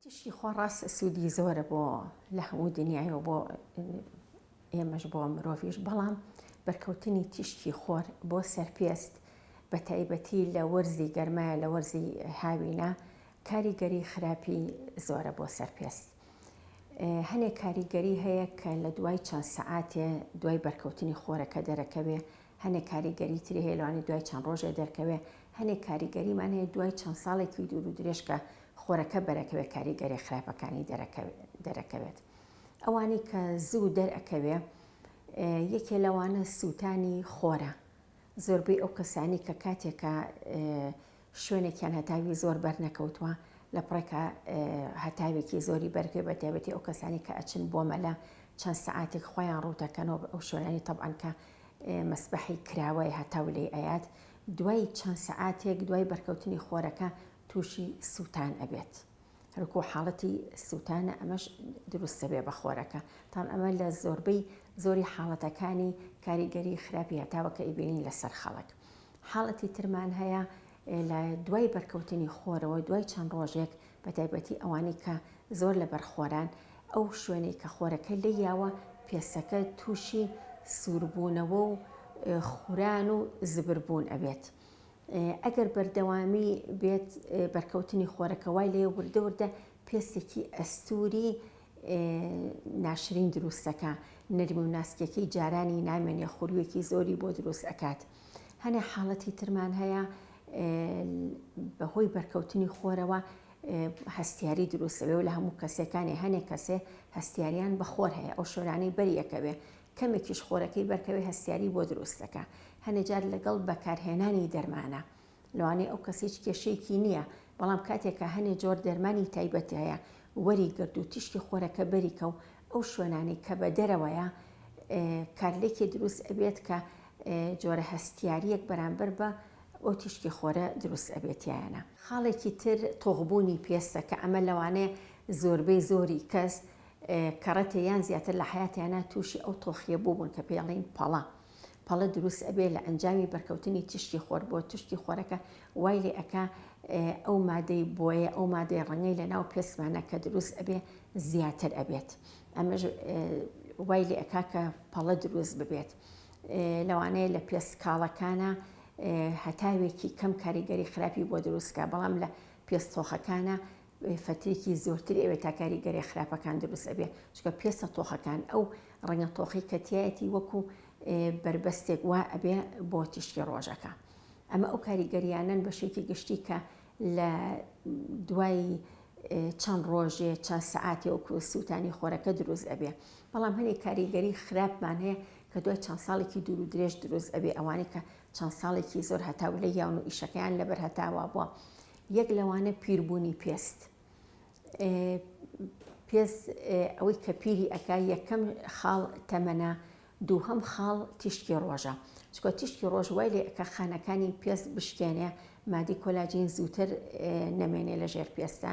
تیشکی خۆ ڕاست سودی زۆرە بۆ لە هەموو دنیای و بۆ ئێمەش بۆ مرۆڤش بەڵام بەرکەوتنی تیشکی خۆر بۆ سەرپێست بە تایبەتی لە وەرزی گەرمایە لە وەرزی هاوینە کاریگەری خراپی زۆرە بۆ سەرپێست هەنێ کاریگەری هەیە کە لە دوای چەند سەعاتێ دوای بەرکەوتنی خۆرەکە دەرەکەوێ هەنێ کاریگەری تری هێلوانی دوای چەند ڕۆژێ دەرکەوێ هەنێ کاریگەریمان هەیە دوای چەند ساڵێکی دوور و درێژکە خۆرەکە بەرەکەوێ کاریگەرێ خراپەکانی دەرەکەوێت ئەوانەی کە زوو دەرەکەوێ یەکێ لەوانە سووتانی خۆرە زۆربەی ئەو کەسانی کە کاتێکە شوێنێکیان هەتاوی زۆر بەرنەکەوتووە لە پڕێکە هەتاوێکی زۆری بەرگێ بە تێبەتی ئەو کەسانی کە ئەچن بۆ مەلە چەند سعاتێک خۆیان ڕووتەکەنەوە ئەو شوێنانی تەبان کە مەسبحی کراوەی هەتاو لێ ئەیات دوای چەند سعاتێک دوای بەرکەوتنی خۆرەکە توشی سوتان ئەبێت هەرکو حاڵەتی سوتانە ئەمەش دروست دەبێت بە خۆرەکە تاڵ ئەمە لە زۆربەی زۆری حاڵەتەکانی کاریگەری خراپی هەتاوە کە ئیبینین لەسەر خەڵک حاڵەتی ترمان هەیە لە دوای بەرکەوتنی خۆرەوە دوای چەند ڕۆژێک بە تایبەتی ئەوانی کە زۆر لە بەرخۆران ئەو شوێنەی کە خۆرەکە لە یاوە پێسەکە تووشی سووربوونەوە و خوران و زبربوون ئەبێت ئەگەر بەردەوامی بێت بەرکەوتنی خۆرەکە وای لێ وردە وردە پێستێکی ئەستوری ناشرین دروستەکە نەرمی و ناسکەکەی جارانی نامێنێ خورویەکی زۆری بۆ دروست ئەکات هەنێ حاڵەتی ترمان هەیە بەهۆی بەرکەوتنی خۆرەوە هەستیاری دروستەوێ و لە هەموو کەسەکانی هەنێک کەسێ هەستیاریان بەخۆر هەیە ئەو شۆرانەی بەریەکەوێ کەمێکیش خۆرەکەی بەرکەوێ هەستیاری بۆ دروست دەکا. هەنێ جار لەگەڵ بەکارهێنانی دەرمانە. لەوانەیە ئەو کەس هیچ کێشەیەکی نییە، بەڵام کاتێ کە هەنێ جۆر دەرمانی تایبەت هەیە وەری گرد و تیشکی خۆرەکە بەریکە و ئەو شوێنانەی کە بە دەرەوەیە کارلێکی دروست ئەبێت کە جۆرە هەستیارییەک بەرامبەر بە ئەو تیشکی خۆرە دروست ئەبێت تیایانە. خاڵێکی تر تۆخبوونی پێستە کە ئەمە لەوانەیە زۆربەی زۆری کەس کەڕەتێ یان زیاتر لە حەیاتیانە تووشی ئەو تۆخییە بووبوون کە پێڵێین پەڵە پەڵە دروست ئەبێ لە ئەنجامی بەرکەوتنی تیشکی خۆر بۆ تشتی خۆرەکە وای لێ ئەک ئەو مادەی بۆیە ئەو مادەی ڕەنگەی لە ناو پێسمانە کە دروست ئەبێ زیاتر ئەبێت ئەمەش وای لێ ئەک کە پەڵە دروست ببێت لەوانەیە لە پێست کاڵەکانە هەتاوێکی کەم کاریگەری خراپی بۆ دروستکە بەڵام لە پێستۆخەکانە فترێکی زۆرتری ئەوێ تا کاریگەرێ خراپەکان دروست ئەبێ چکە پێستە تۆخەکان ئەو ڕەنگە تۆخی کە تایەتی وەکو بەربەستێک وا ئەبێ بۆ تیشکی ڕۆژەکە ئەمە ئەو کاریگەریانن بە شێکی گشتی کە لە دوای چەند ڕۆژێ چەند سعاتی و سووتانی خۆرەکە دروست ئەبێ بەڵام هەنێک کاریگەری خراپمان هەیە کە دوای چەند ساڵێکی دوور و درێژ دروست ئەبێ ئەوانەی کە چەند ساڵێکی زۆر هەتاو لە یاون و ئیشەکەیان لەبەر هەتاوا بووە یەک لەوانە پیربوونی پێست پێست ئەوەی کە پیری ئەک یەکەم خاڵ تەمەە دووهەم خاڵ تیشکی ڕۆژە چکە تیشکی ڕۆژ وای لێ ئەکە خانەکانی پێست بشکێنێ مادی کۆلاجین زووتر نەمێنێ لە ژێر پێستە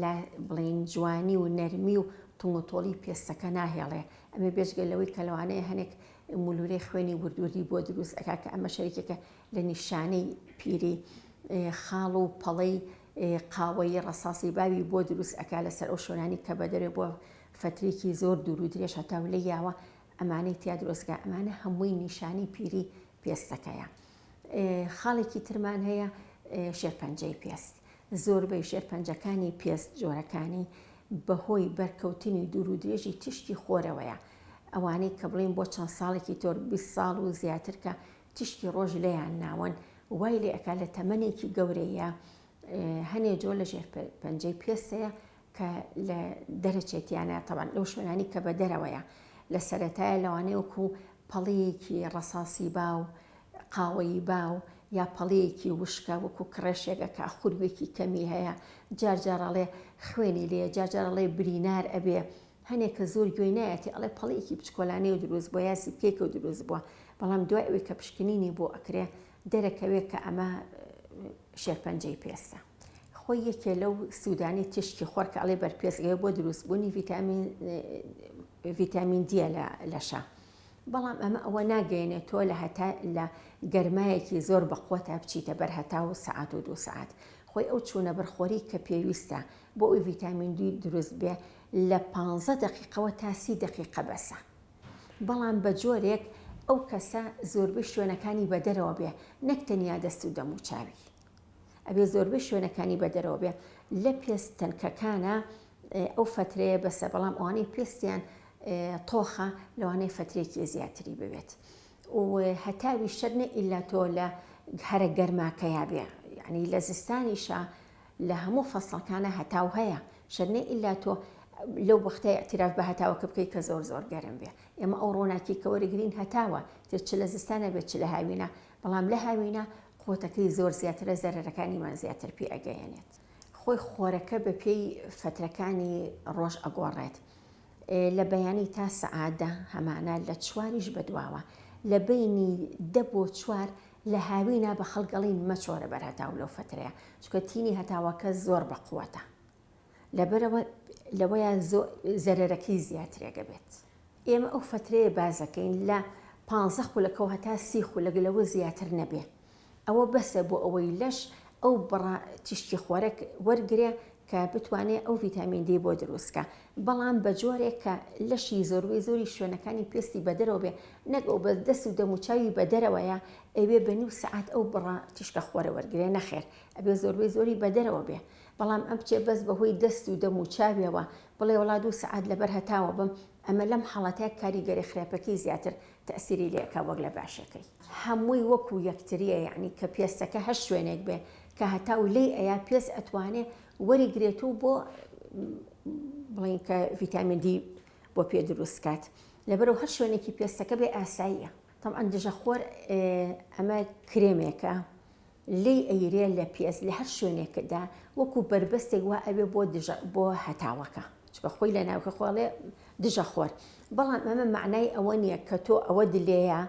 لە بڵین جوانی و نەرمی و تۆمەتۆڵی پێستەکە ناهێڵێ ئەمە بێژگە لەوەی کەلوانەیە هەنێک مولورەی خوێنی وردوردی بۆ دروست ئەکا کە ئەمە شەرێکێکە لە نیشانەی پیری خاڵ و پەڵەی قاوەیی ڕەساسی باوی بۆ دروست ئەکا لەسەر ئەو شوێنانی کە بەدەرێ بۆ فترێکی زۆر دوور و درێژ هەتاو لێ یاوە ئەمانەی تیا درۆستگا ئەمانە هەمووی نیشانی پیری پێستەکەیە خاڵێکی ترمان هەیە شێرپەنجەی پێست زۆربەی شێرپەنجەکانی پێست جۆرەکانی بەهۆی بەرکەوتنی دوور و درێژی تشتی خۆرەوەیە ئەوانەی کە بڵێن بۆ چەند ساڵێکی تۆر 20 ساڵ و زیاتر کە تیشکی ڕۆژ لێیان ناوەن وای لێ ئەکا لە تەمەنێکی گەورەیە هەنێ جۆ لە ژێر پەنجەی پێستەیە کە لە دەرەچێتیانە تەوان لەو شوێنانی کە بە دەرەوەیە لە سەتایە لەوانەیە وکو پەڵەیەکی ڕەساسی با و قاوەیی با و یا پەڵەیەکی وشکە وەکو کڕێشێگە کا خوروێکی کەمی هەیە جارجارڕاڵێ خوێنی لێ جارجارڕاڵێ برینار ئەبێ هەنێ کە زۆر گوێی نایەتی ئەڵێ پەڵەیەکی بچکۆلانەی و دروست بوە یا زیپکەیەکە و دروست بوە بەڵام دوای ئەوەی کە پشکنینی بۆ ئەکرێ دەرەکەوێ کە ئەمە شێرپەنجەی پێستە خۆی یەکێ لەو سوودانی تیشکی خۆر کە ئەڵێ بەرپێستگەیە بۆ دروستبوونی ڤیتامین ڤیتامین دیە لە لەشە بەڵام ئەمە ئەوە ناگەێنێت تۆ لە هەتا لە گەرمایەکی زۆر بەقوتە بچیتە بەر هەتا و سعات و دو سعات خۆی ئەو چوونە بەرخۆری کە پێویستە بۆ ئەوی ڤیتامین دوی دروست بێ لە پانزە دەقیقەوە تا سی دەقیقە بەسە بەڵام بە جۆرێک ئەو کەسە زۆربەی شوێنەکانی بە دەرەوە بێ نەک تەنیا دەست و دەموچاوی ئەبێ زۆربەی شوێنەکانی بە دەرەوە بێ لە پێست تەنکەکانە ئەو فترەیە بەسە بەڵام ئەوانەی پێستیان تۆخە لەوانەی فترێکی زیاتری ببێت و هەتاوی شەرنە ئیلا تۆ لە هەرە گەرماکەیا بێ یعنی لە زستانیشە لە هەموو فەسڵەکانا هەتاو هەیە شەر نە ئیلا تۆ لەو وەختە ئیعتیراف بە هەتاوەکە بکەی کە زۆر زۆر گەرم بێ ئێمە ئەو ڕۆناکی کە وەرەگرین هەتاوە تر چ لە زستانە بێت چ لە هاوینە بەڵام لە هاوینە قوتەکەی زۆر زیاترە زەرەرەکانیمان زیاتر پێ ئەگەیەنێت خۆی خۆرەکە بە پێی فەترەکانی ڕۆژ ئەگۆڕێت لە بەیانی تا سەعات دە هەمانە لە چواریش بەدواوە لە بینی دە بۆ چوار لە هاوینا بە خەڵگەڵین مەچۆرە بەر هەتاو لەو فترەیە چکە تینی هەتاوەکە زۆر بە قووەتە لەبەرەوە لەوەیە زەرەرەکەی زیاترێگە بێت ئێمە ئەو فترەیە بازەکەین لە پ خولەکەەوە هەتا سی خولەگە لەوە زیاتر نەبێ ئەوە بەسە بۆ ئەوەی لەش ئەو بڕە تیشکی خۆرەک وەرگرێ کە بتوانێت ئەو ڤیتامین دی بۆ دروستکە بەڵام بە جۆرێک کە لەشی زۆربەی زۆری شوێنەکانی پێستی بەدەرەوە بێ نەک ئەو بە دەست و دەموچاوی بەدەرەوەیە ئەوێ بە نیو سعات ئەو بڕە تیشکە خۆرە وەرگێ نەخێر ئەبێ زۆربەی زۆری بەدەرەوە بێ بەڵام ئەم بچێ بەس بەهۆی دەست و دەموچاویەوە بڵێ وڵا دوو سعات لەبەر هەتاوە بم ئەمە لەم حاڵەتە کاریگەری خراپەکەی زیاتر تەئسیری لێ ئەکا وەک لە باشەکەی. هەمووی وەکو یەکتریە یەعنی کە پێستەکە هەر شوێنێک بێ کە هەتاو لێی ئەیا پێست ئەتوانێ وەری گرێت و بۆ بڵێن کە ڤیتامین دی بۆ پێ دروست کات لەبەرو هەر شوێنێکی پێستەکە بێ ئاساییە تەبعەن دژە خۆر ئەمە کرێمێکە لێی ئەیرێ لە پێست لە هەر شوێنێکدا وەکو بەربەستێک وا ئەبێ بۆ دژە بۆ هەتاوەکە چونکە خۆی لە ناوکە خۆ ئەڵێ دژە خۆر بەڵام ئەمە مەعنای ئەوە نییە کە تۆ ئەوە دلێیە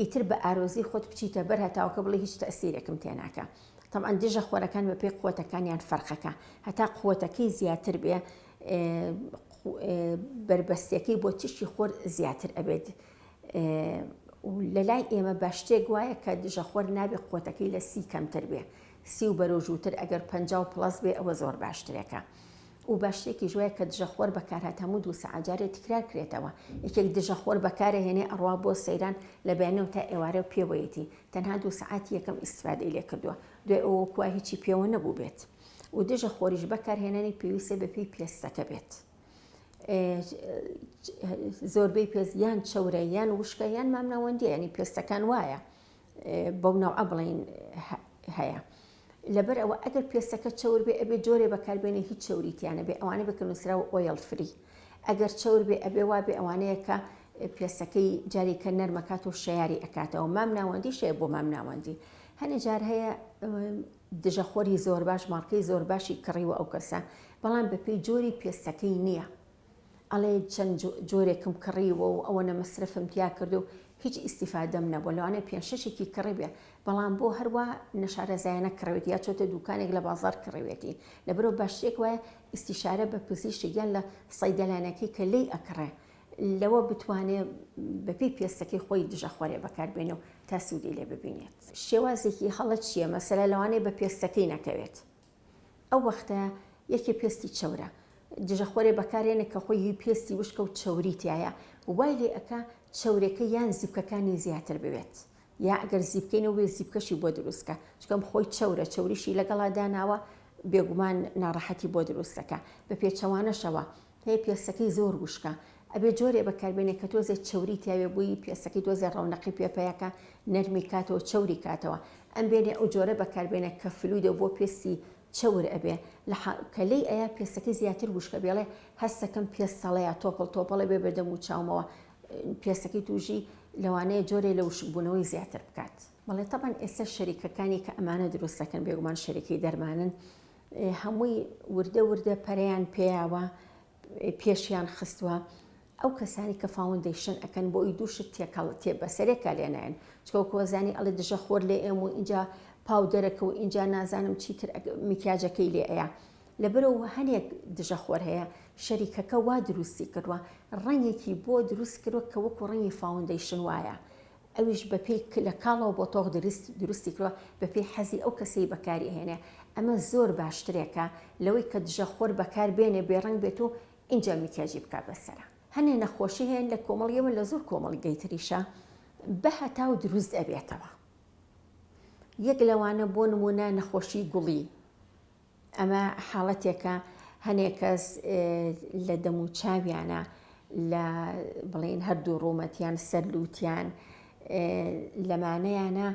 ئیتر بە ئارۆزی خۆت بچیتە بەر هەتاوەکە بڵێ هیچ تەئسیرێکم تێناکە تەبعەن دژە خۆرەکان بە پێی قوتەکانیان فەرقەکە هەتا قوتەکەی زیاتر بێ بەربەستەکەی بۆ تیشکی خۆر زیاتر ئەبێت و لەلای ئێمە بە شتێک وایە کە دژەخۆر نابێ قوتەکەی لە سی کەمتر بێ سی و بەرۆژووتر ئەگەر پ و پلس بێ ئەوە زۆر باشترێکە و بە شتێکی ژوایە کە دژەخۆر بەکارات هەموو دوو سەعجارێ تکرار کرێتەوە یەکێک دژەخۆر بەکارە هێنێ ئەڕوا بۆ سەیران لە بەیانەوە تا ئێوارە و پێوەیەتی تەنها دوو سەعات یەکەم ئیسفادەی لێ کردووە دوێ ئەوە کووا هیچی پێوە نەبوو بێت و دژە خۆریش بەکارهێنانی پێویستە بەپی پێستەکە بێت. زۆربەی پێست یان چەورە یان وشکە یان مامناوەندی ینی پێستەکان وایە بەو ناوە بڵین هەیە لەبەر ئەوە ئەگەر پێستەکە چەور بێ ئەبێ جۆرێ بەکاربێنێ هیچ چوریتیانە بێ ئەوانە بکەنووسرا و ئۆیل فری ئەگەر چەور بێ ئەبێ وا بێ ئەوانەیە کە پێستەکەی جارێکە نەرمەکات و شیاری ئەکاتەوە مام ناوەندی شێ بۆ مام ناوەندی هەنێ جار هەیە دژە خۆری زۆرباش مارکەی زۆرباشی کڕیوە ئەو کەسە بەڵام بەپێی جۆری پێستەکەی نیە ئەڵێ چەند جۆرێکم کڕیوە و ئەوەنە مەسرەفم تیا کرد و هیچ ئیسیفادەم نەبوو لەوانێ پێ شەشێکی کڕێبێ بەڵام بۆ هەروە نەشارەزایانە کڕێت یا چۆتە دوکانێک لە بازار کڕێتی لەبەرەوە باشترێک وایە ئیسیشارە بە پزیشک یان لە سەیدەلانەکەی کە لی ئەکڕێ لەوە بتوانێ بەپێی پێستەکەی خۆی دژە خۆرێ بەکاربێنێ و تا سوودی لێ ببینێت. شێوازێکی هەڵە چییە؟ مەسەلە لەوانەیە بە پێستەکەی نەکەوێت، ئەو وەختە یەکێ پێستی چەورە، دژە خۆرێ بەکارێنێ کە خۆی هی پێستی وشکە و چەوری تیایە، وای لێ ئەکا چەورێکە یان زیپکەکانی زیاتر بوێت، یا گەر زیپکەی نەبووێ زیپکەشی بۆ دروست کا، چونکە ئەم خۆی چەورە، چەوریشی لەگەڵا داناوە، بێگومان ناڕەحەتی بۆ دروست دەکا، بە پێچەوانەشەوە هەیە پێستەکەی زۆر وشکە ئەبێ جۆرێ بەکاربێنێ کە تۆزێ چەوری تیاوێ بووی پێستەکەی تۆزێ ڕەونەقی پێ پەیەکە نەرمی کاتەوە چەوری کاتەوە ئەم بێنێ ئەو جۆرە بەکاربێنێ کە فلویدە بۆ پێستی چەور ئەبێ لە کە لێی ئەیا پێستەکەی زیاتر وشکە بێڵێ هەستەکەم پێستەڵەیە تۆپڵ تۆپڵە بێ بەدەم و چاومەوە پێستەکەی توژی لەوانەیە جۆرێ لە وشکبوونەوەی زیاتر بکات بەڵێ تەبەن ئێستا شەریکەکانی کە ئەمانە دروستەکەن بێگومان شەریکی دەرمانن هەمووی وردە وردە پەرەیان پێیاوە پێشیان خستووە ئەو کەسانی کە فاوندیشن ئەەکەن بۆ ئەوی دووشت تێکەڵ تێ بەسەرێکە لێنایەن چکۆکۆزانی ئەڵێ دژە خۆر لێ ئێم و اینجا پاودەرەکە و اینجا نازانم چیتر میکیاجەکەی لێ ئەیە لەبەرەوە هەنێک دژە خۆر هەیە شەریکەکە وا دروستی کردووە ڕەنگێکی بۆ دروست کردوە کە وەکو ڕەنگی فاوندیشن وایە ئەویش بەپێی ک لە کاڵەوە بۆ تۆخ دروست دروستی کردوە بەپێی حەزی ئەو کەسەی بەکاری ئەهێنێ ئەمە زۆر باشترێکە لەوەی کە دژە خۆر بەکار بێنێ بێ ڕەنگ بێت و ئینجا میکیاجی بکا بە سەرا هەنێ نەخۆشی هەیە لە کۆمەڵی ئێمە لە زۆر کۆمەڵ گەی تریشە بە هەتاو دروست ئەبێتەوە یەک لەوانە بۆ نمونە نەخۆشی گوڵی. ئەمە حاڵەتێکە هەنێک کەس لە دەم و چاویانە لە بڵێن هەردوو ڕوومەتیان سەرلووتیان لەمانەیانە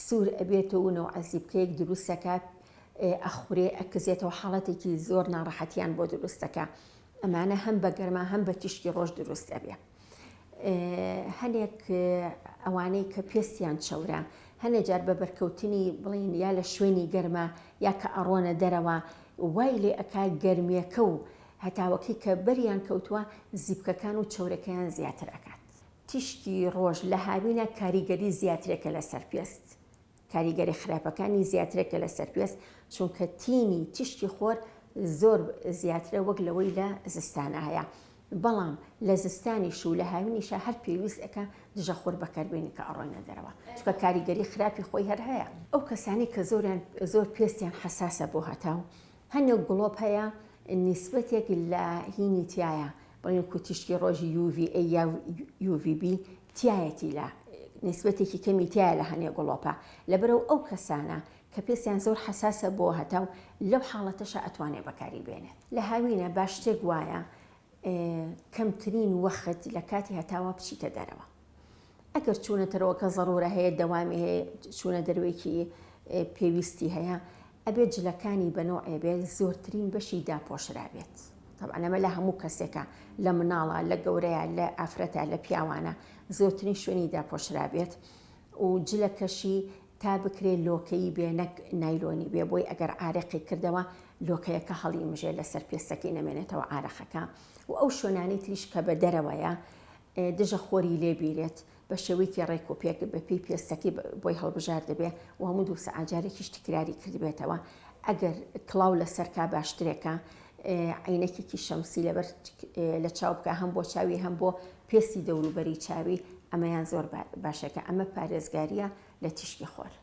سوور ئەبێتەوە و عزیبکەیەک دروستەکات ئەخورێ ئەکزێتەوە حاڵەتێکی زۆر ناڕەحەتیان بۆ دروستەکە ئەمانە هەم بە گەرما هەم بە تیشکی ڕۆژ دروست ئەبێ هەنێک ئەوانەی کە پێستیان چەورە هەنێ جار بە بەرکەوتنی بڵین یا لە شوێنی گەرمە یا کە ئەڕۆنە دەرەوە وای لێ ئەک گەرمیەکە و هەتاوەکی کە بەریان کەوتووە زیپکەکان و چەورەکەیان زیاتر ئەکات تیشکی ڕۆژ لە هاوینە کاریگەری زیاترێکە لەسەر پێست کاریگەری خراپەکانی زیاترە کە لە سەرپێست چونکە تینی تیشکی خۆر زۆر زیاترە وەک لەوەی لە زستانا هەیە بەڵام لە زستانیش و لە هاوینیشە هەر پێویست ئەکە دژە خۆر بەکاربێنی کە ئەڕۆینە دەرەوە چکە کاریگەری خراپی خۆی هەر هەیە ئەو کەسانی کە زۆریان زۆر پێستیان حساسە بۆ هەتاو هەنێک گوڵۆپ هەیە نیسبەتێک لە هینی تایە بڵێن کوتیشکی ڕۆژی UVA یا UVB تیایەتی لە نیسبەتێکی کەمی تیایە لە هەنێ گڵۆپە لەبەرەو ئەو کەسانە کە پێستیان زۆر حەساسە بۆ هەتاو لەو حاڵەتەشە ئەتوانێ بەکاری بێنێت لە هاوینە باش شتێک وایە کەمترین وەخت لە کاتی هەتاوە بچیتە دەرەوە ئەگەر چوونە تەرەوەکە زەڕورە هەیە دەوامی هەیە چوونە دەروێکی پێویستی هەیە ئەبێت جلەکانی بە نوعێ بێت زۆرترین بەشی داپۆشرابێت طبعا ئەمە لە هەموو کەسێکە لە مناڵە لە گەورەیە لە ئافرەتە لە پیاوانە زۆرترین شوێنی داپۆشرابێت و جلەکەشی تا بکرێت لۆکەی بێ نەک نایلۆنی بێ بۆی ئەگەر عارەقی کردەوە لۆکەیەکە هەڵی مژێ لەسەر پێستەکەی نەمێنێتەوە عارەخەکە و ئەو شوێنانی تریش کە بە دەرەوەیە دژە خۆری لێبیرێت بە شێوەیەکی ڕێک و پێک بە پێی پێستەکەی بۆی هەڵبژاردبێ و هەموو دوو سەعات جارێکیش تکراری کردبێتەوە، ئەگەر کڵاو لەسەر کا باشترێکە عەینەکێکی شەمسی لەبەر لە چاو بکا هەم بۆ چاوی هەم بۆ پێستی دەوروبەری چاوی ئەمەیان زۆر باشە کە ئەمە پارێزگارییە لە تیشکی خۆر.